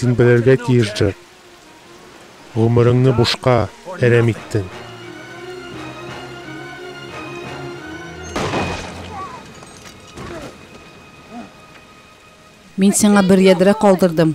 Син белергә тиеш, Джек. Гомереңне бушка әрәм иттең. Мин сиңа бер ядрә калдырдым.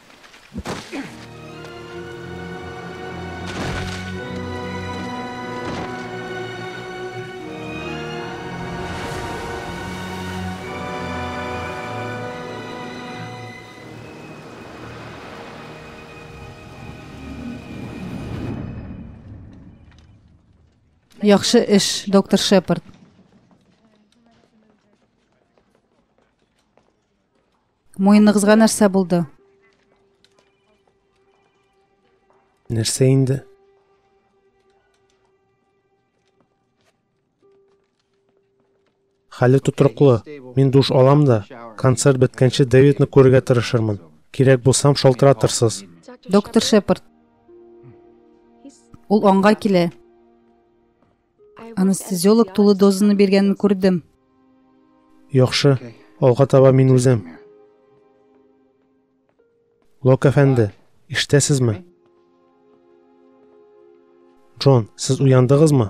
Яхшы эш, доктор Шепард. Муеныгызга нәрсә булды? Нәрсә инде? Хәле тотрыклы. Мин душ алам да, концерт беткәнче Дэвидны күрергә тырышырмын. Кирәк булсам шалтыратырсыз. Доктор Шепард. Ул аңга килә. Анестезиолог тулы дозаны биргәнен күрдем. Яхшы, алга таба мин үзем. Лок әфәнде, ишетәсезме? Джон, сез уяндыгызмы?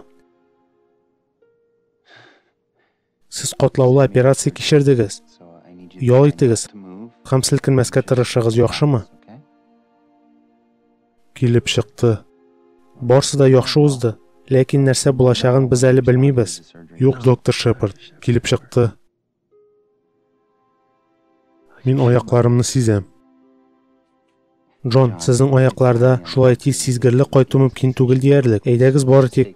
Сез катлаулы операция кичердегез. Ял итегез һәм селкенмәскә тырышыгыз, яхшымы? Килеп чыкты. Барсы да яхшы узды, ләкин нәрсә булачагын без әле белмибез. Юк, доктор Шепард, килеп чыкты. Мин аякларымны сизәм. Джон, сезнең аякларда шулай тиз сизгерлек кайту мөмкин түгел диярлек. Әйдәгез бары тик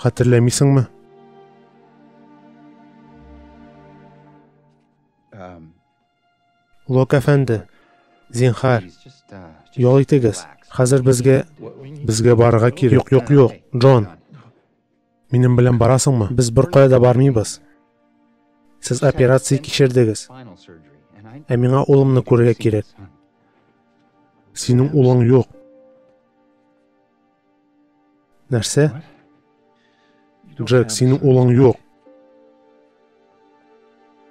Хәтерләмисеңме? Лок әфәнде, зинхар, ял итегез. Хәзер безгә безгә барырга кирәк. Юк, юк, юк, Джон. Минем белән барасыңмы? Без беркая да бармыйбыз. Сез операция кичердегез. Ә миңа улымны күрергә кирәк. Синең улың юк. Нәрсә? Джек, синең улың юк.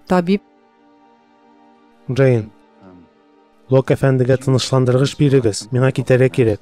Табиб. Джейн, Лок әфәндегә тынычландыргыч бирегез. Миңа китәргә кирәк.